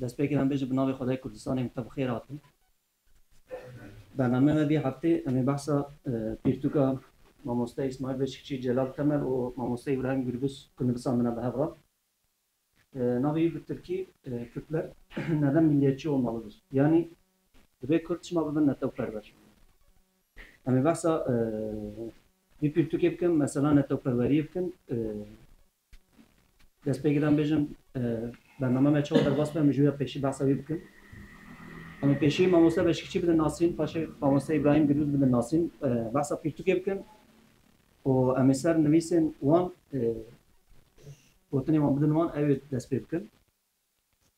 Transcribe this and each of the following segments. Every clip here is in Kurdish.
Destpêkê em bêjin bi navê Xwedayê Kurdistanê em te bi xêr hatin. Bernameya me vê heftê em ê behsa pirtûka Mamoste Îsmaîl Beşikçî, Celal Temel û Mamoste Îbrahîm Gûrbis ku nivîsa min e bi hev re. Navê wî bi tirkî Kürtler neden milliyetçi olmalıdır? Yanî divê Kurd çima bibin netewperwer? Em ê behsa vî pirtûkê bikin, mesela netewperweriyê bikin. Dest pê giran bêjin bername me çawa derbas be, min ji ya pêşî behsa wî bikin. Em ê pêşî Mamoste Beşikçî bidin nasîn, paşê Mamoste Îbrahîm Gilûz bidin nasîn. Behsa pirtûkê bikin û em ê ser nivîsên wan Gotinên wan bidin wan, ew ê dest pê bikin.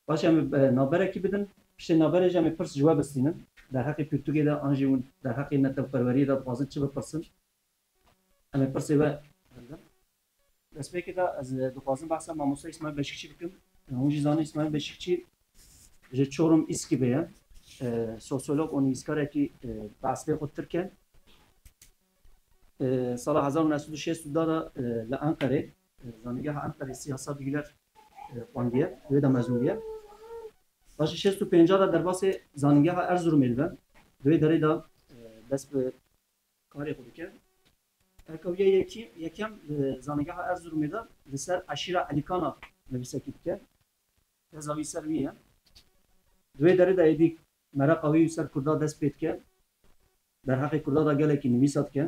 Paşê em ê navberekî bidin. Piştî navberê jî em ê pirs ji we bistînin. Derheqê pirtûkê de an jî hûn derheqê netewperweriyê de dixwazin çi bipirsin? Em ê pirsê we bidin. Destpêkê de ez dixwazim behsa Mamoste Îsmaîl Beşikçî bikim. Hûn jî zanîn Îsmaîl Beşikçî ji Çorum Îskibê ye. Sosyolog û nivîskarekî bi eslê xwe tirk e. Sala hezar û neh sed û şêst û da de li Enqerê. Zanîngeha Enqerê sî Hesabî Güler xwendiye, divê de mezûn biye. Paşê şêst û pêncî de derbasê Zanîngeha Erzurumê dibe. Di wê derê de dest bi karê xwe dike. Erkawiya yekem li Zanîngeha Erzurumê de li ser eşîra Elîkana nivîsekî dike. Teza wî ser wî ye. Di wê derê de êdî mereqa wî ser kurda dest pê dike. Derheqê kurda de gelekî nivîsa dike.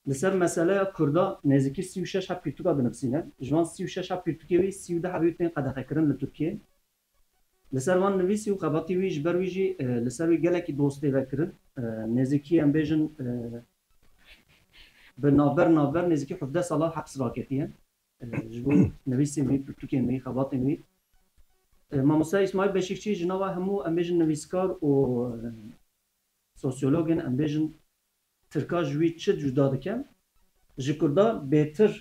Li ser meseleya Kurda nêzîkî sî û şeş heb pirtûka dinivîsîne. Ji van sî û şeş heb pirtûkê wî sî û deh hebî tên qedexekirin li Tirkiyê. Li ser van nivîsî û xebatî wî ji ber wî jî li ser wî gelekî doz tê vekirin. Nêzîkî em bêjin bi navber navber nêzîkî hevdeh sala heps raketiye ji bo nivîsên wî, pirtûkên wî, xebatên wî. Mamoste Îsmaîl Beşîrçî ji nava hemû em bêjin nivîskar û sosyologên em bêjin Tirkan ji wî çi cuda dike? Ji Kurdan bêtir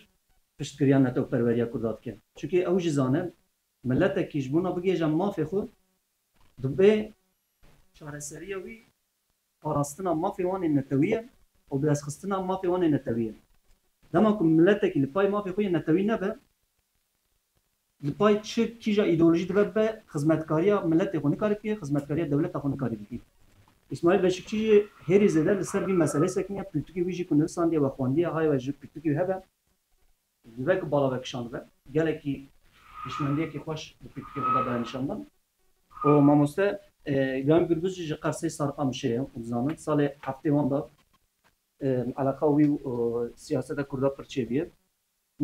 piştgiriya netewperweriya Kurdan dike. Çunkî ew jî zane miletekî ji bona bigihêje mafê xwe dibê çareseriya wî parastina mafê wan ê netewî ye û bidestxistina mafê wan ê netewî ye. Dema ku miletekî li pay mafê xwe yê netewî nebe, Li pay çi kîja îdeolojî dibe bibe xizmetkariya miletê xwe nikarî bike, xizmetkariya dewleta xwe nikarî bike. Îsmaîl Beşikçî jî hêrî zêde li ser vî meseleyê sekiniye, pirtûkê wî jî ku nuvisandiye we xwendiye hay we ji pirtûkê wî hebe. Dibe ku bala we kişand bibe. Gelekî hişmendiyekî xweş di pirtûkê xwe de daye nîşandan. Û mamoste Îbrahîm Gurguz jî ji Qersê Sariqa Mişê ye û dizanin salê heftê wan de eleqa wî û siyaseta kurda pir çêbûye.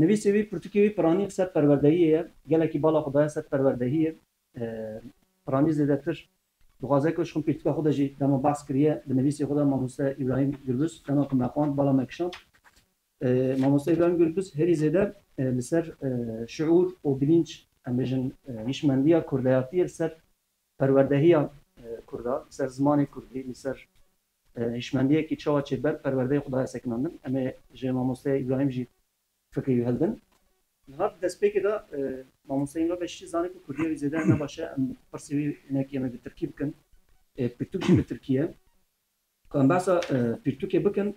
Nivîsê wî, pirtûkê wî piranî li ser perwerdehiyê ye. Gelekî bala xwe daye ser perwerdehiyê. Piranî zêdetir dixwaze ku ji xwe pirtûka xwe de jî dema behs kiriye di nivîsê xwe de Mamoste Îbrahîm Gurbis dema ku me xwend bala me kişand. Mamoste Îbrahîm Gurbis herî zêde li ser şiûr û bilînc em bêjin hîşmendiya kurdayatiyê li ser perwerdehiya kurda, li ser zimanê kurdî, li ser Hişmendiyekî çawa çê ber perwerdeyê xwe daye sekinandin. Em ê ji mamosteya Îbrahîm jî fikrê wî hildin. Niha di destpêkê de mamoste Îmre Beşîşî zanî ku Kurdiya wî zêde ne baş e. Em pirsî wî hinekî em ê bi tirkî bikin. Pirtûk jî bi tirkî ye. Ku em behsa pirtûkê bikin.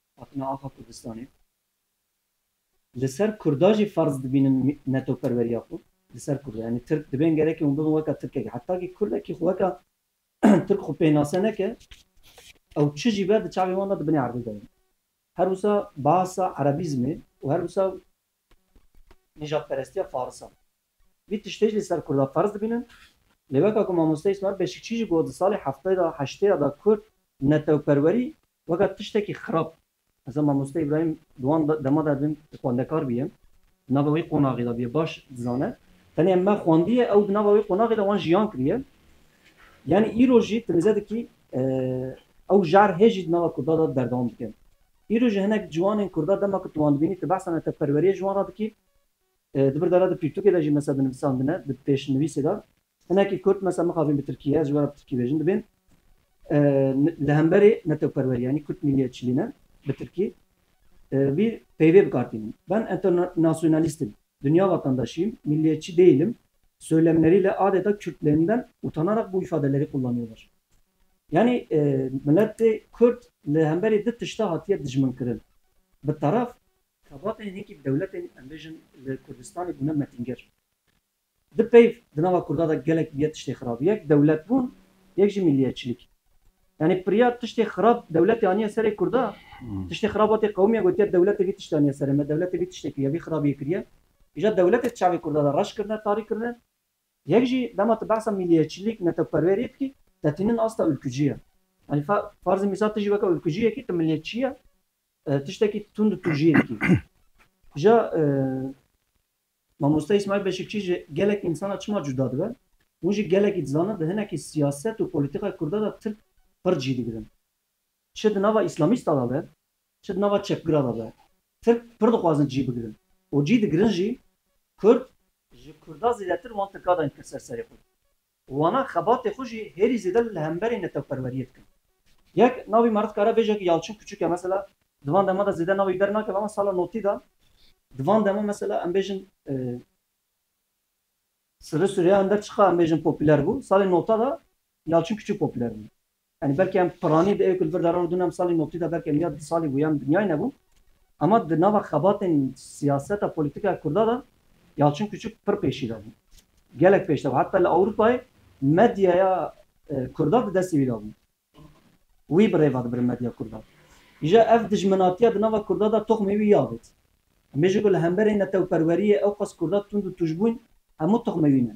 hatina axa Kurdistanê li ser Kurda jî ferz dibînin mînetoperweriya xwe li ser Kurda yanî Tirk dibên gerekî hûn bibin weka Tirkek heta kî Kurdekî xwe weka Tirk xwe pênase neke ew çi jî be di çavên wan de di binê erdê de ye her wisa bahsa erebîzmê û her wisa nîjadperestiya faris a. Vî tiştê jî li ser Kurda ferz dibînin. Lê weka ku Mamoste Îsmaîl Beşikçî jî got di salê heftayê de, heştê ye de Kurd netewperwerî weka tiştekî xirab Heza Mamoste Îbrahîm di wan dema de dibin xwendekar bûye, di nava wî qonaxê de bûye baş dizane. Tenê me xwendiye ew di nava wî qonaxê de wan jiyan kiriye. Yanî îro jî tu nizê dikî ew jar hê jî di nava Kurda de berdewam dike. Îro jî hinek ciwanên Kurda dema ku tu wan dibînî tu behsa netewperweriyê ji wan re dikî. Di vir de re di pirtûkê de jî mesa dinivîsandine di pêşnivîsê de hinekî kurd mesa mixabin bi tirkî ye, ez ji we re bi tirkî bêjin dibên li hemberê netewperwerî yanî kurd mîllîyetçîlî ne bi tirkî vî peyvê bi kar tînin. Ben enternasyonalîst im, dinya vatandaşî im, mîllîyetçî dêyîl im soylemnerî li adeta kurd lêninden utanarak bu îfadelerî qullanîyolar. Yanî miletê kurd li hemberî di tişta hatîye dijminkirin. Bi taraf Xebatên hêkî bi dewletên em bêjin li Kurdistanê bûne metîngir. Di peyv di nava Kurda de gelek bûye tiştê xirab. Yek dewletbûn, yek jî milliyetçilik. Yanî pirya tiştê xirab dewletê aniye serê Kurda, tiştê xirab hatê qewimiye gotiye dewletê vî tiştê aniye serê me, dewletê vî tiştê kiriye, vî xirabiyê kiriye. Îja dewletê di çavê Kurda de reş kirine, tarî kirine. Yek jî dema tu behsa milliyetçilik, netewperweriyê dikî, te tînin asta ûlkûcî ye. Yanî farzê mîsal tu jî weke ûlkûciyek î, tu milliyetçî ye, Tiştekî tund û tûjiyê dikî. Ja Mamoste Îsmaîl Beşikçî ji gelek însanan çima cuda dibe? Hûn jî gelekî dizana di hinekî siyaset û polîtîkayê kurdan de tirk pird jî digirin. Çi di nava îslamîstan de be, çi di nava çepgiran de be, tirk pird dixwazin cî bigirin û cî digirin jî kurd, ji kurdan zêdetir wan tirka dayîn kir ser serê xwe. Wana xebatê xwe jî hêrî zêde li hemberî netewperweriyê dikin. Yek navî me re dikare bêje ku Yalçin Kuçuk e mesela di van dema de zêde navî dernake belaman sala notî de di van dema mesela em bêjin Sirri Sûreya Ender Çiqa em bêjin popûler bû, salê nota de Yalçin Kuçuk popûler bû. Yanî belkî em piranî di ew ku li vir de re û dûnem salî noktî de belkî em ya du salî bûye em dinyayî nebûn. Ema di nava xebatên siyaseta polîtîkaya kurda de Yalçin Kûçik pir pêşî de bû. Gelek pêş de bû. Heta li Ewropayê medyaya kurda di destê wî de bû. Wî bi rêva dibirin medya kurda. Îja ev dijminatiya di nava kurda de toxmê wî ya bêt. Em bêjin ku li hemberî netewperweriyê ewqas kurda tund û tûjbûn hemû toxmê wî ne.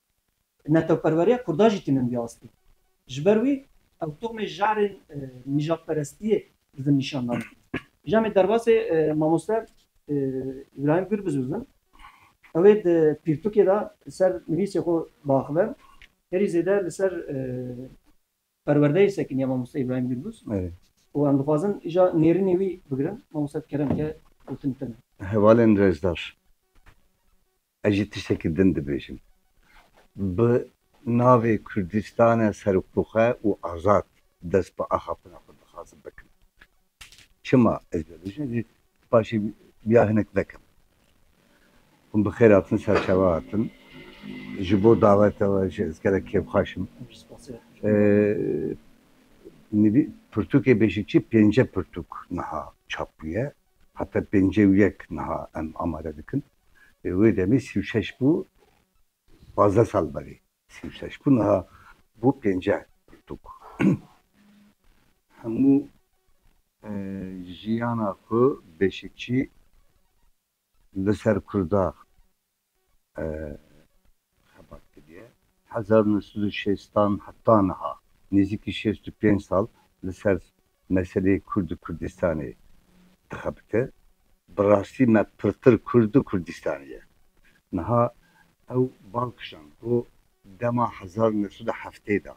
Netewperweriya Kurdan jî tînin vî astê. Ji ber wî ew tomê je'rên nîjadperestiyê li vin nîşan dane. Ji em ê derbasê mamoste Îbrahîm Gür bizûzin. Ew ê di pirtûkê de li ser nivîsê xwe biaxive. Herî zêde li ser. Perwerdeyê sekiniya Mamoste Îbrahîm Gûrbûz û em dixwazin îja nêrînê wî bigirin, Mamoste di keremke gotin tune. Hevalên Rezdar, ez jî tiştekî din dibêjim. Bi navê Kurdîstane seroktoxe û azad dest bi axaftina xwe dixwazim bikim. Çima ez vê bijîm jî paşê biya hinek vekim. Hûn bi xêr hatin ser çawa hatin. Ji bo dawete we jî ez gelek kêfxweş im. Nivî pirtûkê Bêşikçî pênce pirtûk niha çap bûye. Heta pêncê û yek niha em amade dikin. Wê demê sî û şeş bû pazdeh sal berê. Sî û şeş bû niha bû pênceh pirtûk. Hemû jiyana xwe beşikçî li ser Kurdax xebat kiriye. Hezar û neh sed û şêstan heta niha nêzîkî şêst û pênc sal li ser Meseleyê Kurd û Kurdistanê dixebite. Bi rastî me pirtir Kurd û Kurdistanê ye. Niha ew bal kişand ku dema hezar û neh sed û heftê de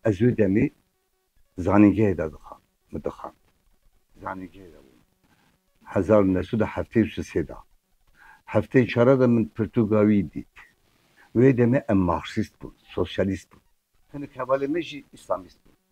ez wê demê zanîngehê de dixwand, min dixwand, zanîngehê de bûm hezar û neh sed û heftê û sisê de. Hefteyê çar de min pirtûka wî dît. Wê demê em marksîst bûn, sosyalîst bûn. Hinek hevalên me jî îslamîst bûn.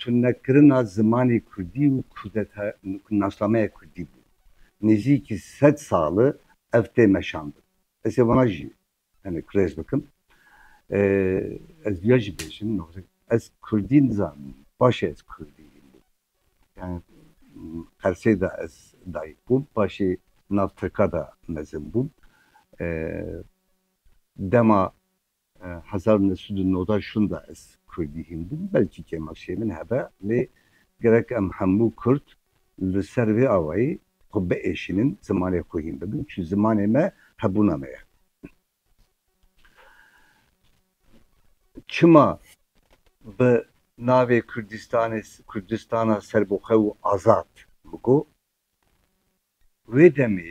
Tunekirina zimanê kurdî û nasnameya kurdî bû. Nêzîkî sed sal e ev tê meşandin. Ez ê wana jî hinek rêz bikim. Ez duya jî bêjim ez kurdî nizanim. Paşê ez kurdî bûm. Yanî Qersê de ez dayik bûm. Paşê nav tirka de mezin bûm. Dema Hezar u neh sed û newda şûn de ez kurdî hîndim, belkî kêmaşiyê min hebe lê gerek em hemû kurd li ser vê awayî xwe biêşînin zimanê xwe hîn bibin çi zimanê me hebûna me ye. Çima bi navê Kurdîstanê Kurdîstana serbixwe û azad min got. Wê demê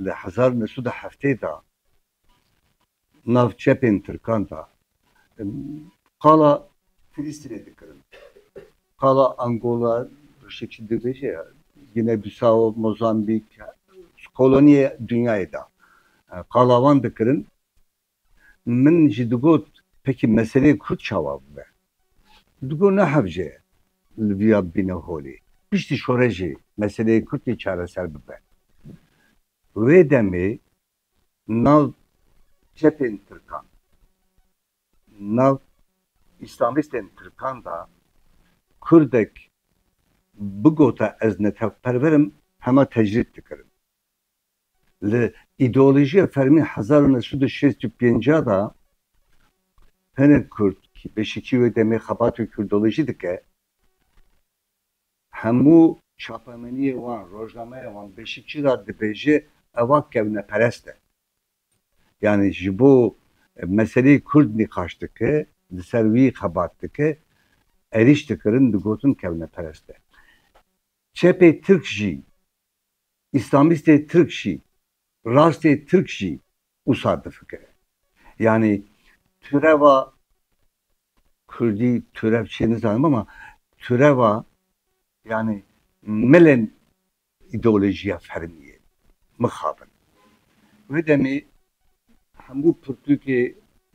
li hezar u neh sed û heftê de nav çepên tirkan da qala Filistînê dikirin. Qala Angola rişê çi dibêje Gine Bisao, Mozambîk ji koloniyê dinyayê da qala wan dikirin. Min jî digot pekî meseleyê kurd çawa bibe. Digot ne hevce li viya bibîne holê. Piştî şorejê meseleyê kurd ê çareser bibe. Wê demê Nav çetên tirkan, nav îslamîstên tirkan de kurdek bigota ez netewperver im hema tecrîd dikirin. Li îdeolojiya fermî hezar û neh sed û şêst û pênc de hinek kurd, beşî kî wê demê xebat û kurdolojî dike, Hemû çapemeniyê wan, rojnameya wan beşî çi ra dibêje ewa kevneperest e. Yanî ji bo meseleyê kurd nîqaş dike, li ser wî xebat dike, erîş dikirin digotin kevneperest e. Çepê tirk jî Îslamîstê Tirk jî, rastê Tirk jî wisa difikire. Yanî tureva Kurdî turev çi ye nizanim bama tureva yanî milên îdeolojiya fermî ye. Mixabin. Wê demê hemû pirtûkê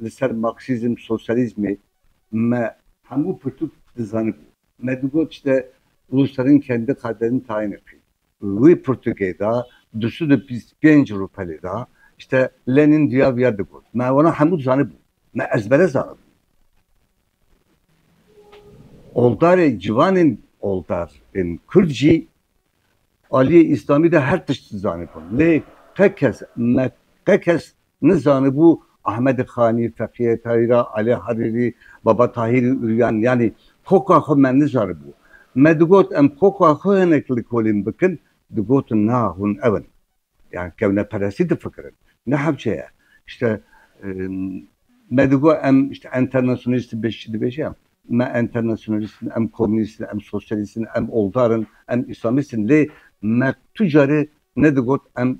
li ser marksîzm, sosyalîzmê me hemû pirtûk dizanibû. Me digot işte Rusların kendi kaderini tayin ettiği. Wî pirtûkê da du sed û bîst û pênc rûpelê da işte Lenin duya viya digot. Me wana hemû dizanibûn. Me ezbere zanibûn. Oldarê ciwanên oldar ên kurd jî aliyê îslamî de her tişt dizanibûn. Lê qe kes me qe kes Nizanibû Ahmedê Xanî, Feqîyê Tayîra, Alê Harîrî, Baba Tahîrî Uryan yanî koka xwe me nizanibû. Me digot em koka xwe hinek li kolîn bikin, digotin na hûn ew in. Yan kevneperestî difikirin. Ne hewce ye. Îşte me digot em îşte enternasyonalîst in beşî dibêje em. Me enternasyonalîst in, em komînîst in, em sosyalîst in, em oldar in, em îslamîst in lê me tu carê nedigot em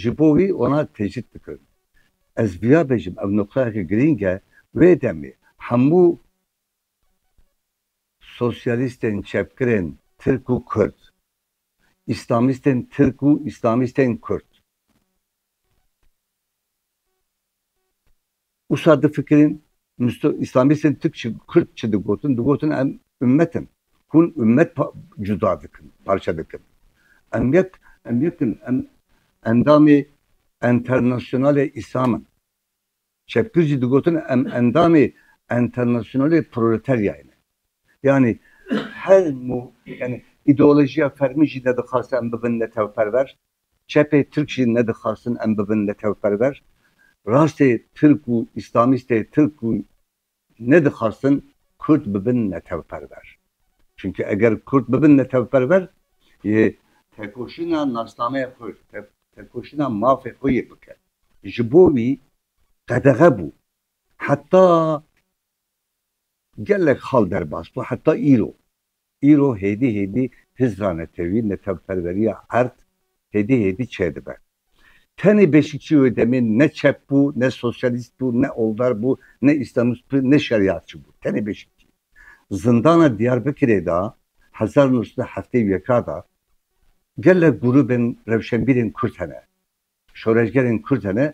Ji bo wî wana tecrîd bikin. Ez vêya bêjim ev noqteyeke girîng e, wê demê hemû sosyalîstên çepgirên tirk û kurd, îslamîstên tirk û îslamîstên kurd, Usa difikirîn Misto Îslamîstên Tirk çi Kurd çi digotin, digotin em ummet in. Hûn ummet pa cuda dikin, parçe dikin. Em yek em yek in, em endamê Enternasyonalê Îslam in. Çepgir jî digotin em endamê Enternasyonalê Proleteryayê ne. Yanî her mû yanî îdeolojiya fermî jî nedixwaze em bibin netewperwer. Çepê Tirk jî nedixwastin em bibin netewperwer. Rastê Tirk û Îslamîstê Tirk jî nedixwastin Kurd bibin netewperwer. Çimkî eger Kurd bibin netewperwer yê tekoşîna nasnameya xwe, tekoşîna mafê xwe yê bikin. Ji bo wî qedexe bû. Heta gelek xal derbas bû, heta îro. Îro hêdî hêdî hizra netewî, netewperweriya erd hêdî hêdî çêdibe. Tenê Beşikçî wê demê ne çep bû, ne sosyalîst bû, ne oldar bû, ne îslamîst bû, ne şerîatçi bû. Tenê Beşikçî. Zindana Dîyarbikirê de hezar û nû sed û heftê û yeka de gelek grûbên rewşenbîrên kurd hene, şoreşgerên kurd hene.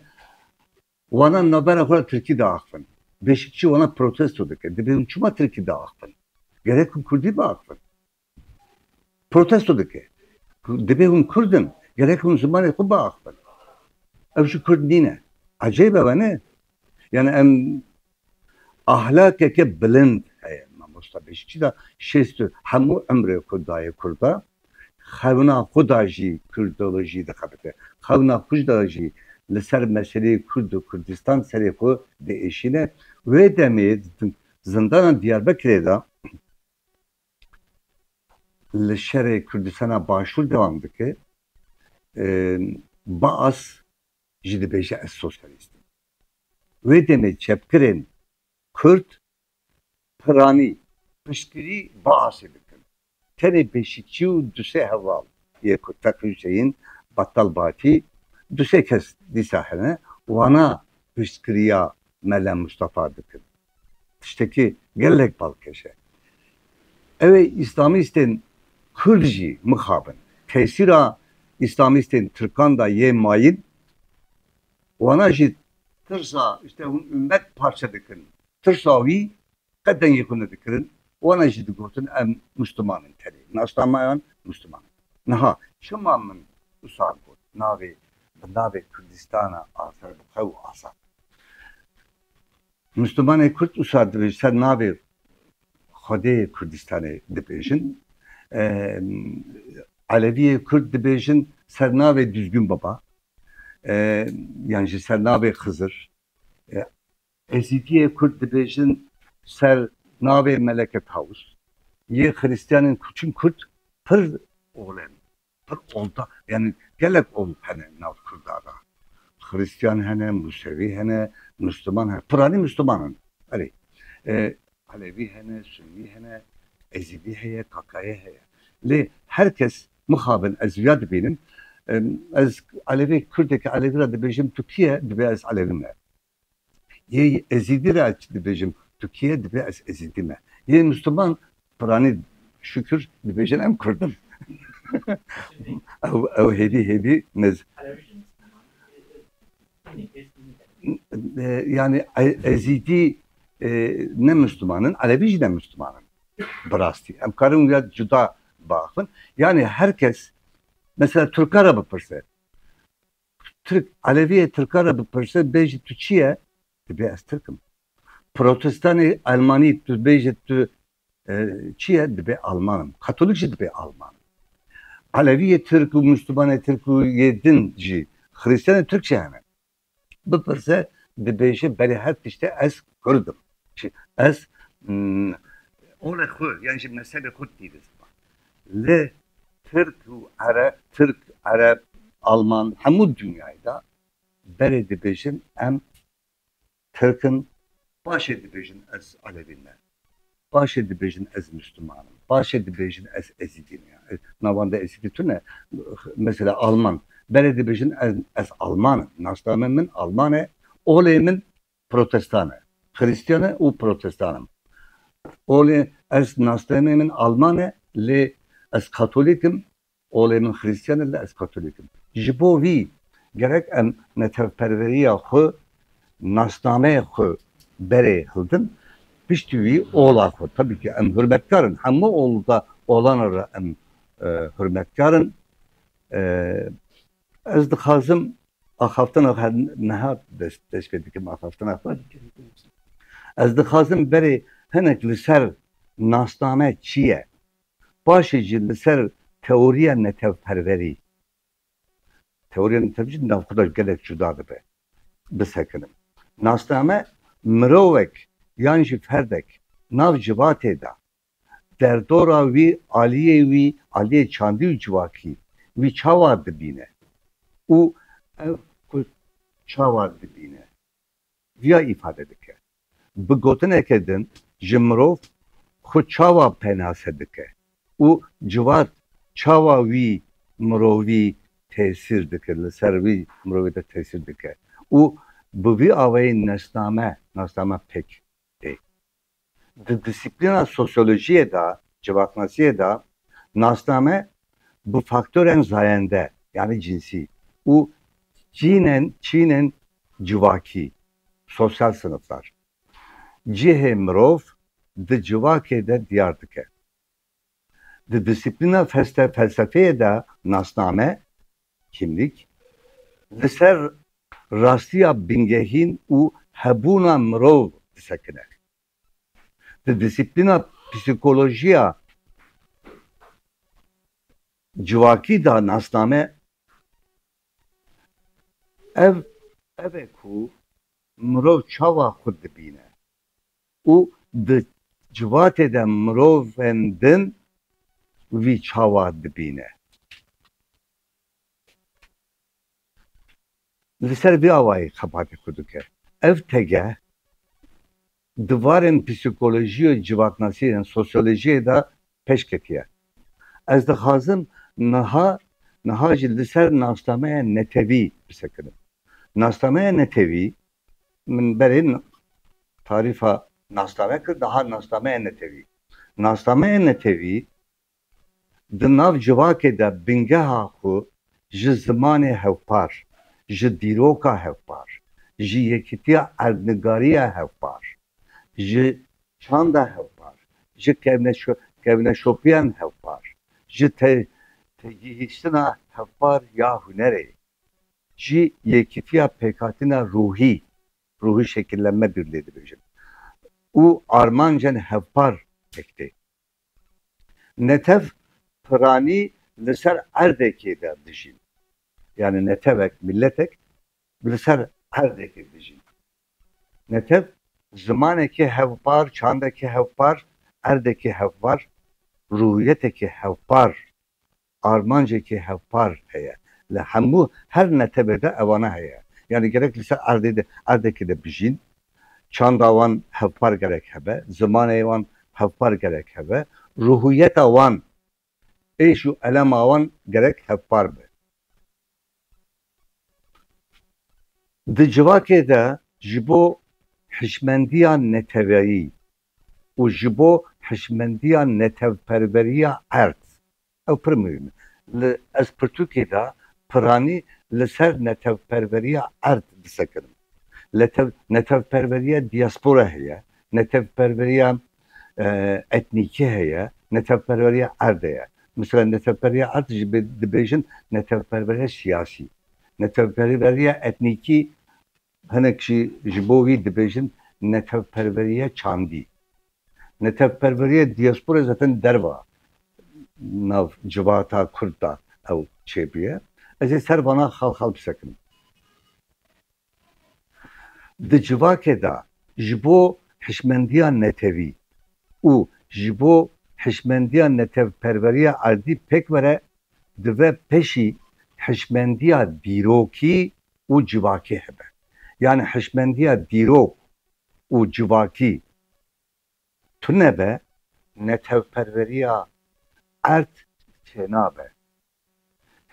Wanan navbera xwe re tirkî diaxivin. Bêşikçî wanan protesto dike. Dibê hûn çima tirkî diaxivin? Gerek hûn kurdî biaxivin. Protesto dike. Dibê hûn kurd in, gerek hûn zimanê xwe biaxivin. Ew jî kurd nîne. Ecêb e we ne? Yanî em Ahlakeke bilind heye mamosta Beşikçî da şêst û hemû umrê xwe daye kurda. Xewna xwe da jî kurdolojî dixebite. Xewna xwe da jî li ser meseleyê kurd û kurdistan serê xwe diêşîne. Wê demê di zindana Diyarbekirê da li şerê kurdistana başûr dewam dike. Baas. jî dibêje ez sosyalîst im. Wê demê çepgirên kurd piranî piştgirî Baasê bikin. Tenê pêşîkçî û du sê heval yê ku Teqî Huseyîn, Battal Bakî, du sê kes dîsa hene, wana piştgiriya Mele Mustafa dikin. Tiştekî gelek balkêş e. Ew ê îslamîstên kurd jî mixabin. Tesîra îslamîstên tirkan de yê mayîn. Wana jî tirsa îşte hûn umet parçe dikin. Tirsa wî qet dengê xwe nedikirin. Wana jî digotin em mûsliman in tenê. Nasnameyan mûsliman in. Niha çima min wisa got navê bi navê Kurdistana azad bi xew û azad. Muslimanê Kurd usa di vir ser navê Xwedê Kurdistanê dibêjin. Eleviyê Kurd dibêjin ser navê Düzgün Baba yan jî ser navê Xızır. Ezidiyê Kurd dibêjin ser navê Meleke Tavus. Yê Xristiyanên ku çin Kurd pir oxlem. Pir olda yanî gelek old hene nav kurda da. Xirîstîyan hene, musewî hene, musliman hene. Piranî musliman in. Erê. Elewî hene, sunnî hene, ezîdî heye, kakayê heye. Lê her kes mixabin ez viya dibînim. Ez elewê kurdeke elewî ra dibêjim tu kî ye? Dibê ez elewî me. Yê Ezîdî re ez çi dibêjim? Tukîye dibê ez Ezîdî me. Yê Mûsliman Piranî şukir dibêjin em Kurd in. Ew hêvî hêvî nez. Yanî Ezîdî ne Mûsliman in, Elevî jî ne Mûsliman in. Bi rastî em karin wîya cuda biaxivin. Yanî her kes, mesela Turka re bipirse. Tirk, Eleviyê Tirkan re bipirse bêje tu çi ye? Dibê ez Tirk im. Protestanê Elmanî tu bêje tu çi ye? Dibê Alman im. Katolik jî dibê Alman im. Eleviyê Tirk û Mûslûmanê Tirk û yê din jî Xirîstiyanê Tirk jî hene. Bipirse dibêje belê her tiştê ez Kurd im. Çi ez ola xwe yan ji mezhebê xwe didî ziman. Li Tirk û Ereb, Tirk, Ereb, Alman hemû dinyayê de berê dibêjin em Tirk in, paşê dibêjin ez Elevî me, paşê dibêjin ez Mûsliman im, paşê dibêjin ez Ezîdî me. Navenda Ezîdî tune. Mesela Alman berê dibêjin ez Alman im, nasname min Alman e, olê min Protestan e. Xirîstiyan e û protestan im. Olê ez nasnameyê min alman e lê ez katolîk im, olê min xirîstiyan e lê ez katolîk im. Ji bo vî gerek em netewperweriya xwe, nasnameyê xwe berê hildin, piştî wî ola xwe. Tebî ke em hurmetkar in, hemû ola olan re em hurmetkar in. Ez dixwazim axaftina xwe niha pêş kê dikim axaftina xwe ez dixwazim berê hinek li ser nasname çi ye paşê jî li ser teoriya netewperwerî teoriya netewperwerî jî di nav xwe de gelek cuda dibe bisekinim. Nasname mirovek yan jî ferdek nav civatê de Derdora wî aliyê wî, aliyê çandî û civakî wî çawa dibîne û ev Kurd çawa dibîne viya îfade dike. Bi gotineke din ji mirov xwe çawa penase dike û civak çawa wî mirovî tesîr dike, li ser wî mirovê de tesîr dike û bi vî awayî nasname, nasname pêk tê Di dîsiplîna sosyolojiyê de, civaknasiyê de nasname bi faktorên zayende yanî cinsî û çînên çînên civakî, sosyal sinifdar, cihê mirov di civakê de diyar dike. Di dîsiplîna felsefeyê de nasname, Kimlik, li ser rastiya bingehîn û hebûna mirov disekine. Di dîsiplîna psîkolojiya civakî de nasname, Ev ev e ku mirov çawa xwe dibîne. Û di civatê de mirovên din vî çawa dibîne? Li ser vî awayî xebatê xwe dike. Ev tegeh di varên psîkolojî û civaknasî yên sosyolojiyê de pêş ketiye. Ez dixwazim niha niha jî li ser nasnameya netewî qise kirim. Nasnameya netewî Min berê tarîfa nasname kir, dihat nasnameya netewî. Nasnameya netewî di nav civakê de bingeha xwe ji zimanê hevpar, ji dîroka hevpar, ji yekîtiya erdnigariya hevpar, ji çanda hevpar, ji kevneşopiyan hevpar, ji têgihiştina hevpar ya hunerê, Ji yekîtiya pêkhatina ruhî, ruhî şekillenme dûr lê dibêjin û armancên hevpar pêk tê. Netev piranî li ser erdekê de dijîn. Yanî netevek, mîletek li ser erdekê dijîn. Netev zimanekî hevpar, çandekî hevpar, erdekî hevpar, ruhiyetekî hevpar Armancekî hevpar heye li hemû her netewê de ewana heye. Yanî gerek li ser erdê de erdekê de bijîn, çanda wan hevpar gerek hebe, zimanê wan hevpar gerek hebe, ruhûyeta wan, êş û elema wan gerek hevpar be. Di civakê de ji bo hişmendiya neteweyî û ji bo hişmendiya netewperweriya erd, ew pir muhîm e. Li ez pirtûkê de piranî li ser netewperweriya erd disekirim. Netewperweriya diaspora heye, netewperweriya etnîkî heye, netewperweriya erd heye. Misal netewperweriya erd jî dibêjin netewperweriya siyasî. Netewperweriya etnîkî hinek jî ji bo wî dibêjin netewperweriya çandî. Netewperweriya diaspora zaten derva nav civata kurd de ew çêbûye. Ez ê ser vana xal xal bisekinim. Di civakê de ji bo hişmendiya netewî û ji bo hişmendiya netewperweriya erdî pêk were, dive peşî hişmendiya dîrokî û civakî hebe. Yanî hişmendiya dîrok û civakî Tunebe netewperweriya erd tênabe.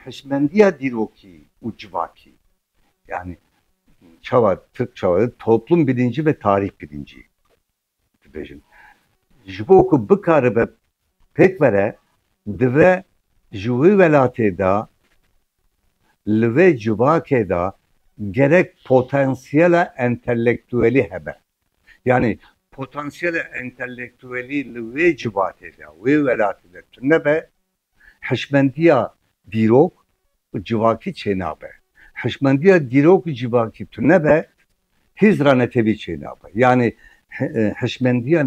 Hişmendiya dîrokî û civakî yanî çawa tirk çawa dibin toplum bilincî ve tarîx bilincî dibêjin. Ji bo ku bikaribe pêk vere dive ji wê welatê de li vê civakê de gerek potansiyela entelektuelî hebe. Yanî potansiyela entelektuelî li wê civatê de, wê welatê de tune be, hişmendiya dîrok û civakî çênabe. Hişmendiya dîrok û civakî tune be, hêz re netewî çênabe. Yanî hişmendiya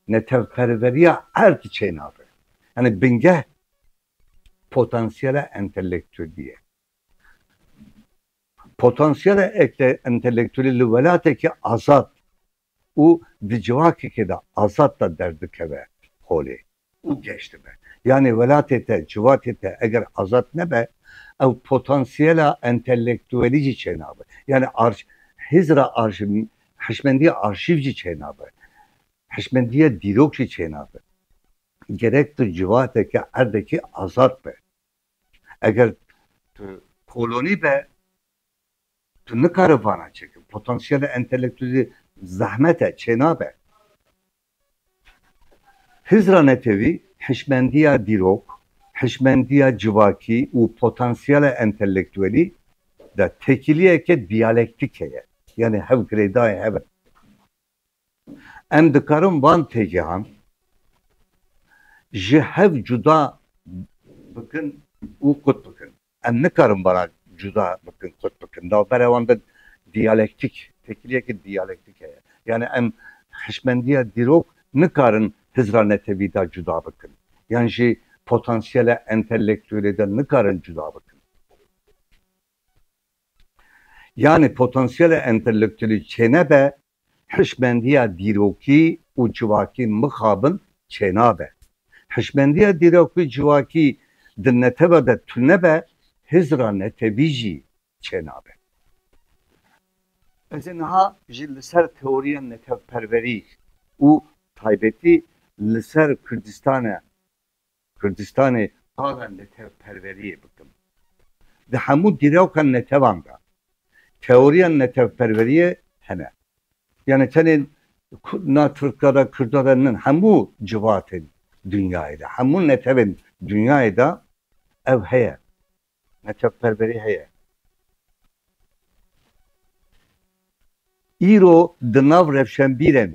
netewperveriya erd çênabe. Yanî bingeh potansiyela entelektuelî ye. Potansiyela entelektuelî li welatekî azad û di civakekê de azad de derdikeve holê û geş dibe. Yanê welatê te, civatê te eger azad nebe, ew potansiyela entelektuelî jî çênabe. Yanê hizira hişmendiya arşîv jî çênabe, hişmendiya dîrok jî çênabe. Gerek tu civateke, erdekî azad be. Eger tu kolonî be tu nikare vana çêkir. Potansiyela entelektûlî zehmet e, çênabe. Hizra Netewî hişmendiya dîrok, hişmendiya civakî û potansiyela entelektuelî de tekîliyeke diyalektîke ye. Yanî hev girêdayên hev in. Em dikarin van têgehan ji hev cuda bikin û qut bikin. Em nikarin vana cuda bikin, qut bikin. Navbera wan de diyalektîk, têkiliyeke diyalektîk heye. Yanî em hişmendiya dîrok nikarin Hizra Netewî de cuda bikin. Yan jî potansiyela entelektuelê de nikarin cuda bikin. Yanî potansiyelê entelektyelî çênebe, hişmendiya dîrokî û civakî mixabin çênabe. Hişmendiya dîrokî û civakî di netewê de tunebe, hizra netewî jî çênabe. Ez ê niha jî li ser teoriya netewperwerî û taybetî li ser Kurdistane Kurdistanê ava netewperweriyê bikim di hemû dîroka netevan de. Teoriya netewperweriyê hene. Yanî tenê na Tirka de, Kurda de nin, hemû civatên dinyayê de, hemû netewên dinyayê de ev heye. Neçavperverî heye. Îro di nav rewşenbîrên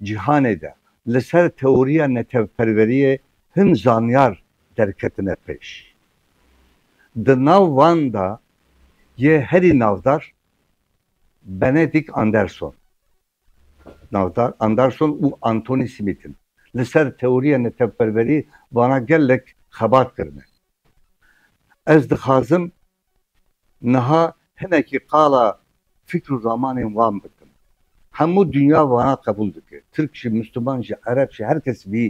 cîhanê de li ser teoriya neçavperveriyê hin zanyar derketine pêş. Di nav wan de yê herî navdar Benedikt Anderson. Navdar Anderson û Anthony Smith in. Li ser teoriya netewperwerî vana gelek xebat kirine. Ez dixwazim niha hinekî qala fikr û ramanên wan bikim. Hemû dinya vana qebûl dike. Tirk jî, Mûsliman jî, Ereb jî her kes vî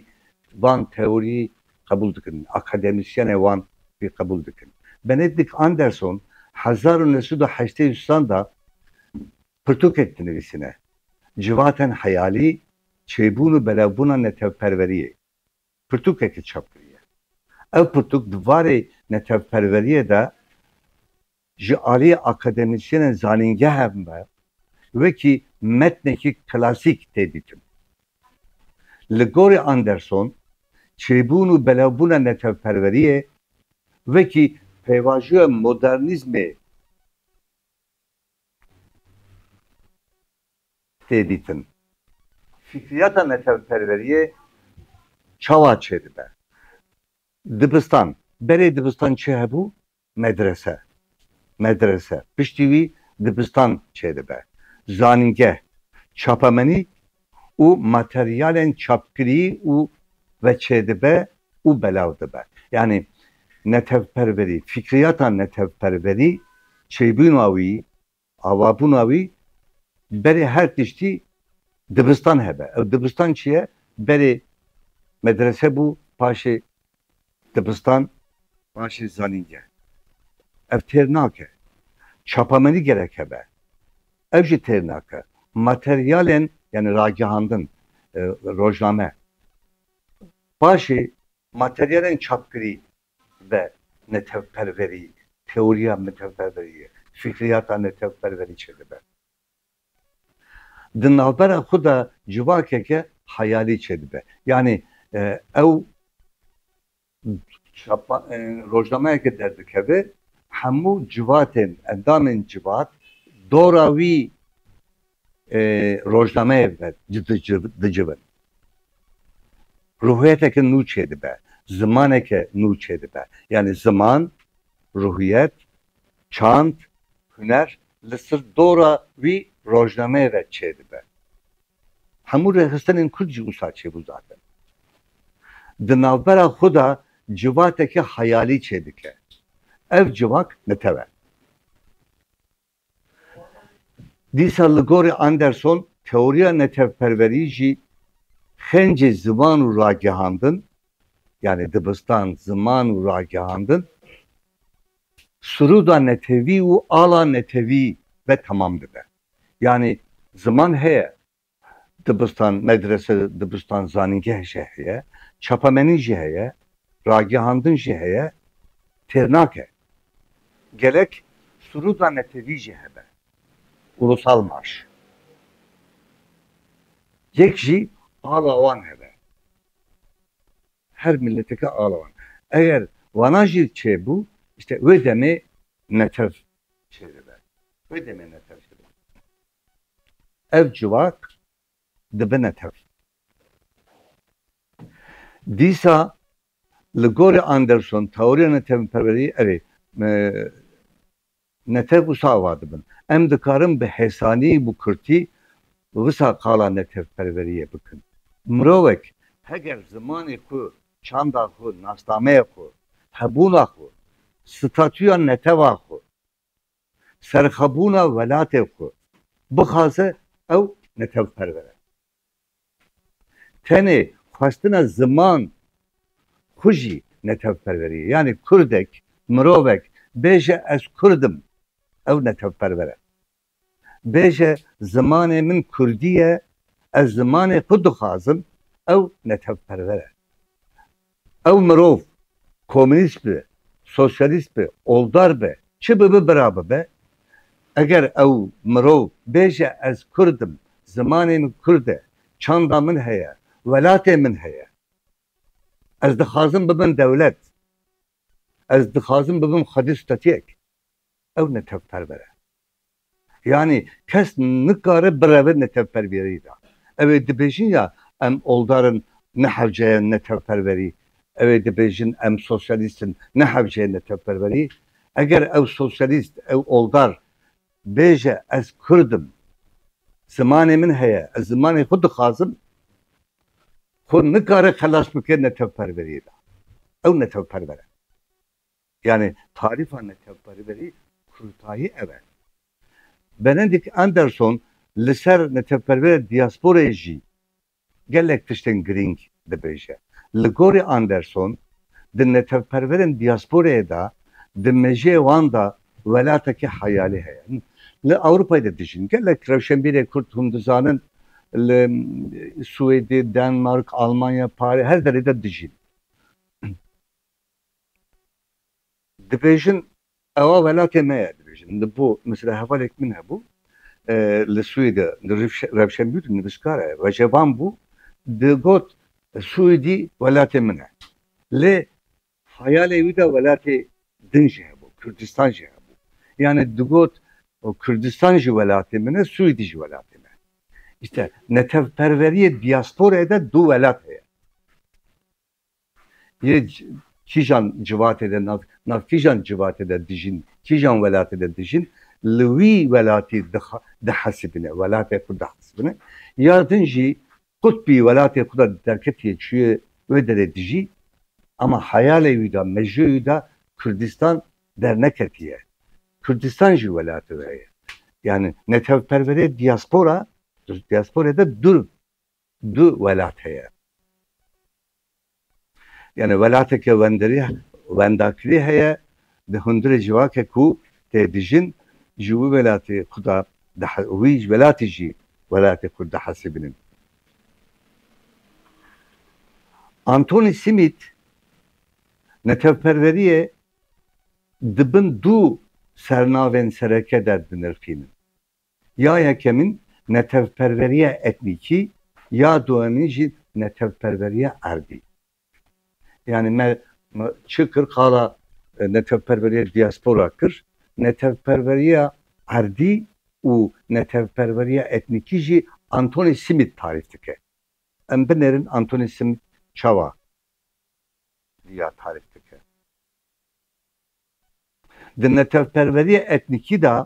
van teorî qebûl dikin. Akademîsyene wan vî qebûl dikin. Benedikt Anderson hezar û neh sed û heştê û sanda Pirtûkek dinivîsîne, Civatên heyalî, çêbûn û belewbûna netewperweriyê. Pirtûkekê çap kiriye. Ev pirtûk di varê netewperweriyê de ji aliyê akademîsyenên zanîngehe me wekî metnekî klasîk tê dîtin. Li gorî Anderson, çêbûn û belewbûna netewperweriyê wekî pêvajoya modernîzmê, tê dîtin. Fikriyata netewperweriyê çawa çêdibe? Dibistan, berê dibistan çi hebû? Medrese. Medrese. Piştî wî dibistan çêdibe. Zanîngeh. Çapemenî û materyalên çapkirî û veçêdibe û belav dibe. Yanî netewperverî, fîkriyata netewperverî, çêbûna wî, avabûna wî berê her tiştî dibistan hebe. Ew dibistan çi ye? Berê medrese bû, paşê Dibistan paşê zanîngeh. Ev têr nake. Çapamenî gerek hebe. Ew jî têr nake. Materyalên yanî ragihandin, rojname. Paşê materyalên çapkirî ve netewperverî, teoriya netewperverî ye, fikriyata netewperverî çêdibe. Di navbera xwe de civakeke heyalî çêdibe. Yanî ew rojnameyeke derdikeve, hemû civatên, endamên civat dora wî rojnameyê dicivin. Ruhiyeteke nû çêdibe, zimaneke nû çêdibe. Yanî ziman, ruhiyet, Çand, huner li sir dora wî rojnameyê ve çêdibe. Hemû rêxistinên kurd jî wisa çêbû zaten. Di navbera xwe de civateke heyalî çêdike. Ev civak netew e. Dîsa li gorî Anderson teoriya netewperwerî jî xêncê zivan û ragihandin yanî dibistan, ziman û ragihandin, siroda netewî û ala netewî ve temam dibe. Yanî ziman heye, dibistan, medrese, dibistan, zanîngeh jî heye, çapamenî jî heye, ragihandin jî heye, têr nake. Gelek siroda netewî jî hebe. Ulusal marş. Yek jî ala wan hebe. Her mileteke alawan. Eger wana jî çêbû îşte wê demê netew çêdibe. Wê demê netew çêdibe. Ev civak dibe netew. Dîsa li gorî Anderson teoriya netewperweriyê ev ê. Netew wisa ava dibin, Em dikarin bi hêsanî û bi kurtî wisa qala netewperweriyê bikin. Mirovek heger zimanê xwe, çanda xwe, nasnameya xwe, hebûna xwe, statûya netewa xwe, serxwebûna welatê xwe bixwaze ew netewperwer e. Tenê xwestina ziman xwe jî netewperwerî ye. Yanî kurdek, mirovek bêje ez kurd im, ew netewperwer e. Bêje zimanê min kurdî ye, ez zimanê xwe dixwazim, ew netewperwer e. Ew mirov, komînîst be, sosyalîst be, oldar be, çi bibe bira bibe, eger ew mirov bêje ez kurd im, zimanê min kurd e, çanda min heye, welatê min heye, ez dixwazim bibim dewlet, ez dixwazim bibim xwedî stetuyek, ew netewperber e. Yanî kes nikare bireve netewpervîreyî de. Ew ê dibêjin ya em oldar in ne hewceye netewperverî, ew ê dibêjin em sosyalîst in ne hewceye netewperverî. Eger ew sosyalîst, ew oldar bêje ez kurd im, zimanê min heye, ez zimanê xwe dixwazim, xwe nikare xelas bike netewperveriyê de. Ew netewperver e. Yanî tarîfa netewperwerî kurtayî ev e. Benedikt Anderson li ser netewperwerê diyasporayê jî gelek tiştên girîng dibêje. Li gorî Anderson di netewperwerên diyasporayê de di mejiyê wan de welatekî heyalî heye. Li Ewropayê de dijîn. Gelek rewşenbîrê kurd hûn dizanin li Swêdê, Denmark, Almanya, Parê her derê de dijîn. Dibêjin ewa welatê me ye, dibêjin li bo mesela hevalek min hebû li Swêde li rewşenbîr nivîskar e vejevan bû digot Swêdî welatê min e lê xeyalê wî de welatê din jî hebû Kurdistan jî hebû yanî digot Kurdistan jî welatê min e Swêdî jî welatê me îşte netewperweriyê diyasporê de du welat heye. Yê kîjan civatê de nav nav kîjan civatê de dijîn, kîjan welatê de dijîn li wî welatî dihesibîne, welatê xwe dihesibîne ya din jî qutbî welatê xwe de derketiye çûye wê derê dijî ema heyalê wî de, mejûyê wî de Kurdistan derneketiye. Kurdistan jî welatê we ye. Yanî netewperwerê diyaspora, diyasporê de dûr. Du welat heye. Yanî welateke wendirî, wendakirî heye di hundirê civake ku tê dijin ji wî welatî xwe da dihe wî welatî jî welatê xwe dihesibînin. Antonî Simît netewperwerîyê di bin du sernavên sereke de dinirxînin. Ya yekemîn netewperveriya etnîkî, ya duemîn jî netewperveriya erdî. Yanî me çi kir qala netewperveriya diaspora kir, netewperveriya erdî û netewperveriya etnîkî jî Anthony Smith tarîf dike. Em binêrin Anthony Smith çawa vîya tarîf dike. Di netewperweriya etnîkî de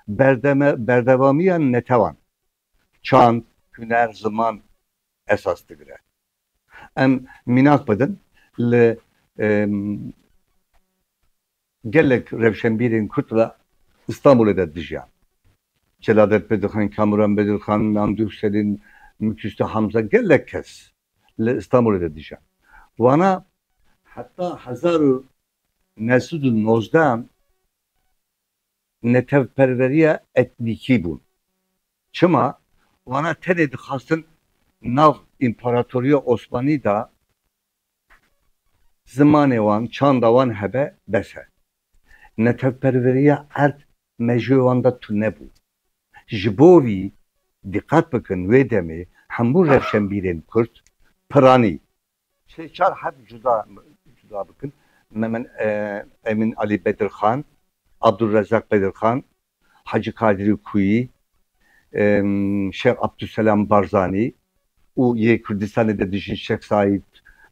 berdeme berdevamiya netewan, çand, huner, ziman esas digire. Em mînak bidin li gelek rewşenbîrên Kurd re Stenbolê de dijiyan. Celadet Bedirxan, Kamuran Bedirxan, Namdûh Selîm, Mukîsto Hamza gelek kes li Stenbolê de dijiyan. Wana heta hezar û Mesûd û Nozdan netewperweriya etnîkî bûn. Çima? Wana tenê dixwastin nav Împaratoriya Osmanî de zimanê wan, çanda wan hebe, bes e. Netewperweriya erd mejûyê wan de tune bû. Ji bo vî, diqet bikin wê demê hemû rewşenbîrên kurd, piranî, Sê çar heft cuda cuda bikin, Memed Emîn Alî Bedirxan, Abdulrezak Bedirxan, Hacî Kadirî Kuyî, Şex Abdulselam Barzanî û yê Kurdistanê de dijîn Şex Saîd,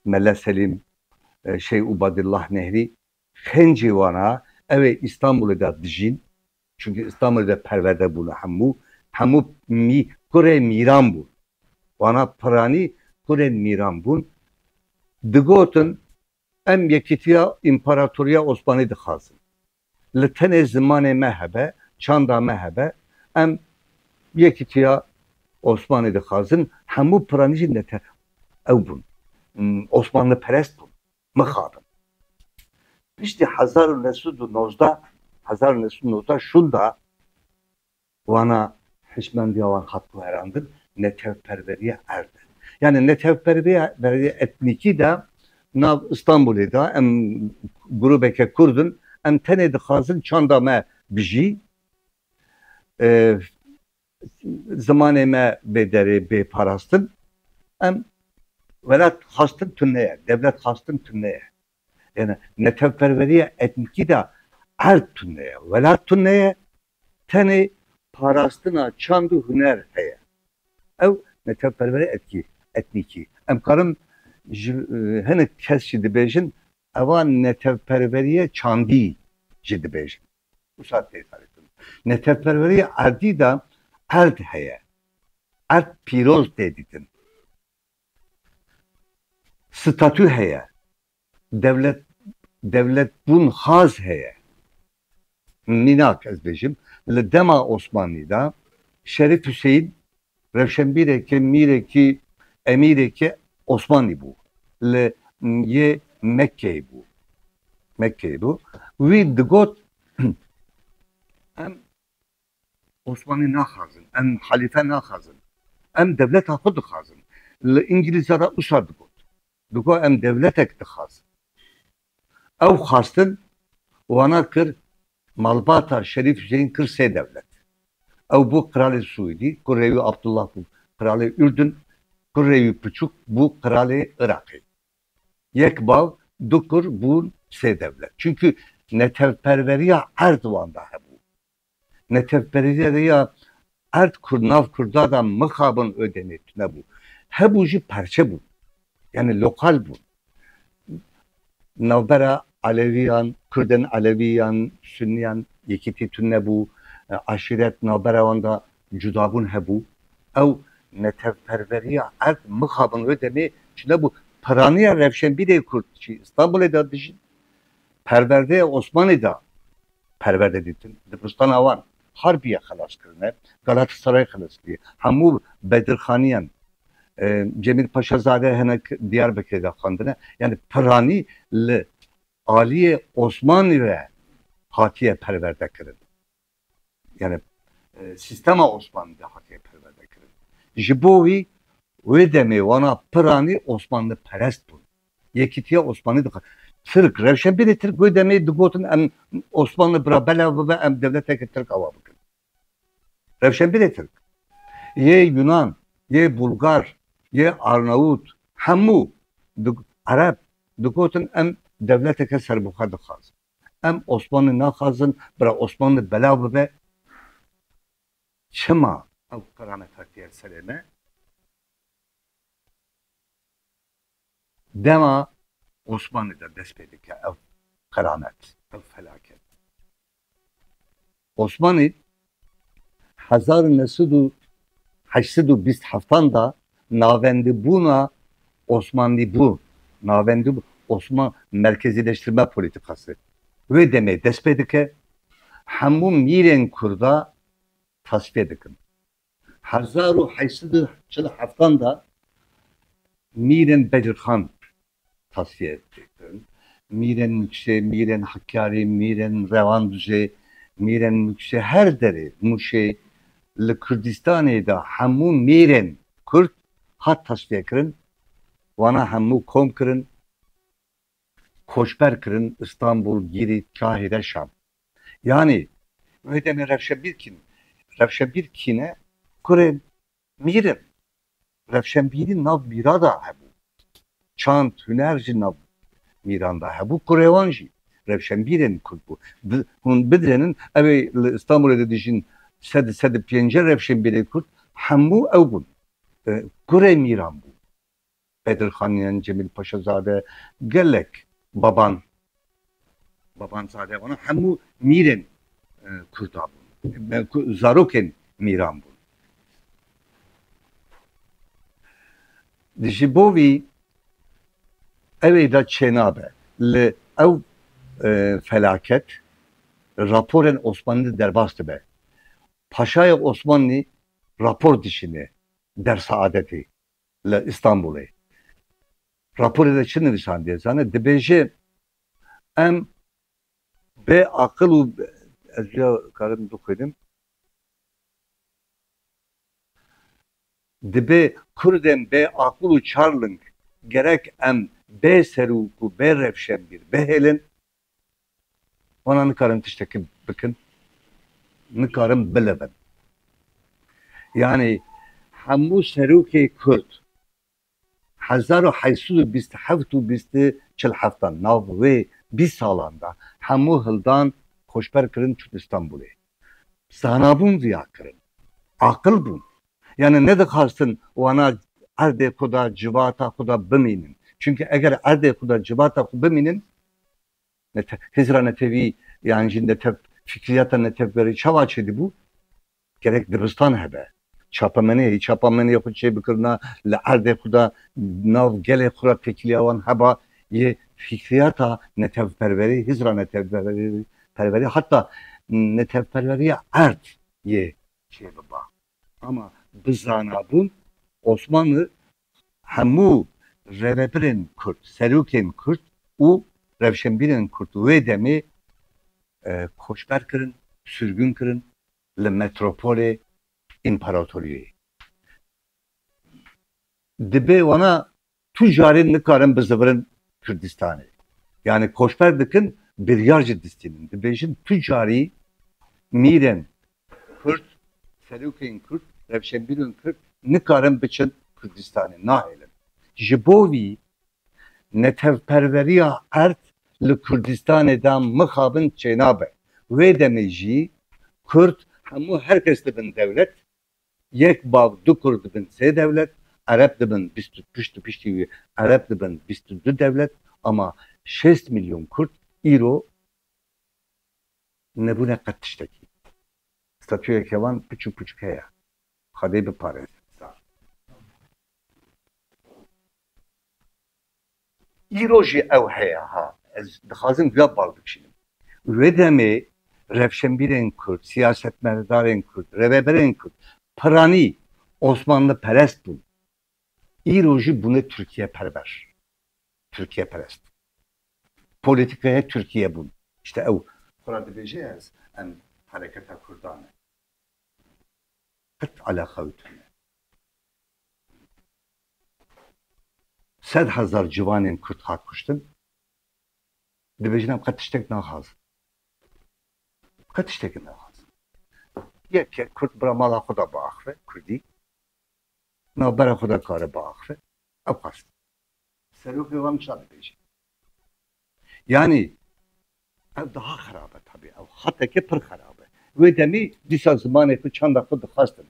Mele Selîm, Şex Ubadillah Nehrî, Xêncê wan a, ew ê Îstanbulê de dijîn, çimkî Îstanbulê de perwerde bûne hemû, hemû mî, kurê mîran bûn. Wan a piranî kurên mîran bûn. Digotin, em yekîtiya Împaratoriya Osmanî dixwazin. Li tenê zimanê me hebe, çanda me hebe, em yekîtiya Osmanî dixwazin. Hemû piranî jî nete ew bûn. Osmanliperest bûn. Mixabin. Piştî hezar û neh sed û nozdeh hezar û neh sed û nozdeh şûnda wana hişmendiya wan hat guherandin netewperweriya erd e. Yanî netewperweriya veriya etnîkî de nav Îstanbulê de em grûbeke kurd in em tenê dixwazin çanda me bijî. Zimanê me bê derê bê parastin. Em welat xastin tune ye, dewlet xastin tune ye. Yane netewperweriya etnîkî de erd tune ye, welat tune ye, tenê parastina çand û huner heye. Ew netewperweriya etkî etnîkî. Em karin ji hinek kes jî dibêjin ewa netewperweriya çandî jî dibêjin. Wisa tê tarifkirin. Neteweperwerîya erdî de erd heye. Erd pîroz tê dîtin. Statû heye. Dewlet dewletbûn xaz heye. Mînak ez bêjim, li dema Osmanlî de Şerîf Huseyîn Rewşenbîreke mîrekî emîreke Osmanlî bû. Li yê Mekkeyê bû. Mekkeyê bû. Wî digot em Osmanlî naxwazin, em halîfe naxwazin. Em dewleta xwe dixwazin. Li Îngilîzan re wisa digot. Digot em dewletek dixwazin. Ew xwestin wana kir malbata Şerîf Hüseyin kir sê dewlet. Ew bû qiralê Swîdî, kurê wî Abdullah bû qiralê Urdun, kurê wî piçûk bû qiralê Iraqê. Yek bav, du kur bûn sê dewlet. Çunkî netewperweriya erd wanda hebû. Netewperîzê de ya erd ku nav kurda de mixabin û demê tunebû. Hebû jî parçe bûn. Yanî lokal bûn. Navbera Elewîyan, Kurdên Elewî yan Sunîyan yekîtî tunebû. Aşîret navbera wan de cudabûn hebû. Ew netewperverîya erd mixabin û demê tunebû. Piranîya rewşenbîrê kurd jî Stenbolê de dijîn. Perwerdeyê Osmanî de perwerde dîtin, dibistana wan Harbiye xelas kirine, Galatasaray xelas kiriye, hemû bedirxaniyan Cemîl Paşazade hene Diyarbekirê de xwendine, yanî piranî li aliyê Osmanlî re hatiye perwerde kirin. Yanî sîstema Osmanlî de hatiye perwerde kirin. Ji bo wî wê demê wana piranî Osmanliperest bûn. Yekîtiya Osmanî dixwe Tirk, rewşenbîrê Tirk wê demê digotin em Osmanli bira belav bibe em dewleteke Tirk awa bikin. Rewşenbîrê Tirk, yê Yunan, yê Bulgar, yê Arnawut hemû Ereb digotin em dewleteke serbixwe dixwazin. Em Osmanli naxwazin bira Osmanli belav bibe. Çima ew qeramet hatiye serê me? Dema Osmanlî de dest pê dike ev qiramet, ev felaket. Osmanlî hezar û neh sed û heşt sed û bîst heftan de navendibûna Osmanlîbûn, navendibûn Osman merkezîleştirme polîtîkasê wê demê dest pê dike, hemû mîrên Kurda tasfîye dikin. Hezar û heşt sed û çil û heftan de mîrên Bedirxan tasfiye kirin. Mîrên Mûkşê, mîrên Hekyarî, mîrên Rewandûjê, mîrên Mûkşê her derê Mûşê li Kurdistanê de hemû mîrên Kurd hat tasfiye kirin. Wana hemû kom kirin, koçber kirin Istanbul, Gîrî, Kahîre, Şam. Yanî wê demê rewşenbîr kîn in. Rewşenbîr kî ne? Kurên mîr in. Rewşenbîrî nav mîra de hebû. Çand, huner jî nav mîran de hebû. Kurê wan jî rewşenbîrên kurd bû. Bi hûn bidrênin evê li Îstanbûlê de dijîn sed sed û pêncî rewşenbîrên kurd hemû ew bûn. Kurê mîran bû. Bedr Xan yan Cemîl Paşazade gelek baban babanzade wan hemû mîrên Kurda bûn, zarokên mîran bûn. Ji bo vî ew ê de çênabe li ew felaket raporên Osmanlî derbas dibe. Paşayê Osmanlî rapor dişîne der saadetê. li Îstanbûlê raporê de çi nivîsandiye zane dibêje em bê aqil û ez rêya karim bixwînim dibê kurdên bê aqil û çarling gerek em bê serûk û bê revşenbîr bihêlin. Wana nikarin tiştekî bikin, nikarin bilebin. Yanî hemû serokê kurd hezar û heşt sed û bîst û heft û bîst û çil heftan nav wê bîst salan de hemû hildan, xoşber kirin çûn Îstanbûlê. Zana bûn viya kirin. Aqil bûn. Yanî nedixwastin wana erdê xwe de civata xwe de bimînin. Çimkî eger erdê xwe de civata xwe bimînin Hizra netewî yan jî netew fikriyata netewgerî çawa çêdibû? Gerek dibistan hebe, çapemenê, çapamenê xwe çêbikirina li erdê xwe de nav gelê xwe re têkiliya wan heba yê fikriyata netewperwerî, hizra netewperwerî heta netewperweriya erd yê çêbiba. Ama bizanabûn Osmanli Hemû rêvebirên Kurd, serokên Kurd û rewşenbîrên Kurd wê demê koçber kirin, sirgûn kirin li metropolê Împaratoriyoyê. Dibe wana tu carê nikarin bizivirin Kurdistanê. Yanî koçber dikin biryar jî distînin. Dibêjin tu carî mîrên Kurd, serokên kurd, rewşenbîrên kurd nikarin biçin Kurdistanê, nahêlin. Ji bo vî netewperweriya erd li Kurdistanê de mixabin çênabe. Wê demê jî kurd hemû her kes dibin dewlet, yek bav du kurd dibin sê dewlet, ereb dibin bîst û pişt û piştî wî ereb dibin bîst û du dewlet ama şêst milyon kurd îro, Nebûne qet tiştekî. Statûya kevan piç û pûçik heye. Xwedê biparêzin zar. Îro jî ew heye ha. Ez dixwazim duya bal bikişînim. Li wê demê rewşenbîrên kurd, siyasetmedarên kurd, rêveberên kurd piranî osmanliperest bûn. Îro jî bûne Tirkiyeperver, Tirkiyeperest. Polîtîkaya Tirkiyebûn îşte ew. Xwe ra dibêje ez em hereketa kurda me. Qet eleqa wî tune. Sed hezar ciwanên kurd hat kuştin. Dibêjin em qet tiştek naxwazin. Qet tiştekê naxwazin. Yek kurd bira mala xwe da biaxve, kurdî. Navbera xwe de kare biaxive. Ew xwest serokê wan wisa bibêje. Yanî ew daha xerab e tabî ew xeteke pir xerab e. Wê demê dîsa zimanê xwe, çanda xwe dixwestin.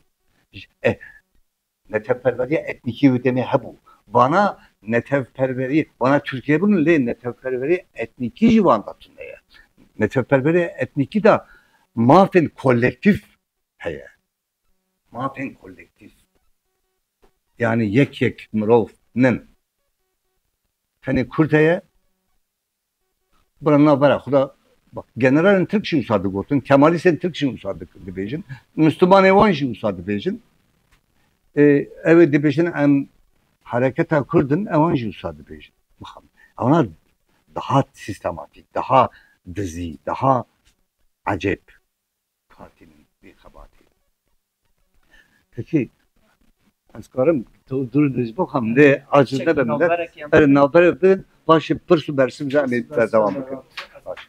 Netewperweriya etnîkî wê demê hebû. Vana netewperwerî, vana Tirkiyê bûn lê netewperwerî etnîkî jî wan de tune ye. Netewperweriya etnîkî de mafên kolektîf heye. Mafên kolektîf yanî yek yek mirov nin. Tenê kurd heye bira navbera xwe de bak generalên tirk jî wisa digotin, kemalîstên tirk jî wisa dibêjin, muslimanên wan jî wisa dibêjin. Ew ê dibêjin em hereketa kurd in ewan jî wisa dibêjin. Mixabin. Ewna daha sîstematîk, daha dizî, daha ecêb. katînin vî xebatê. Hikî ez karim tu dûr dûr jî bixwim lê aciz nebe milet. Erê navberek bidin paşê pirs û bersim jî em ê berdewam bikin. Başa.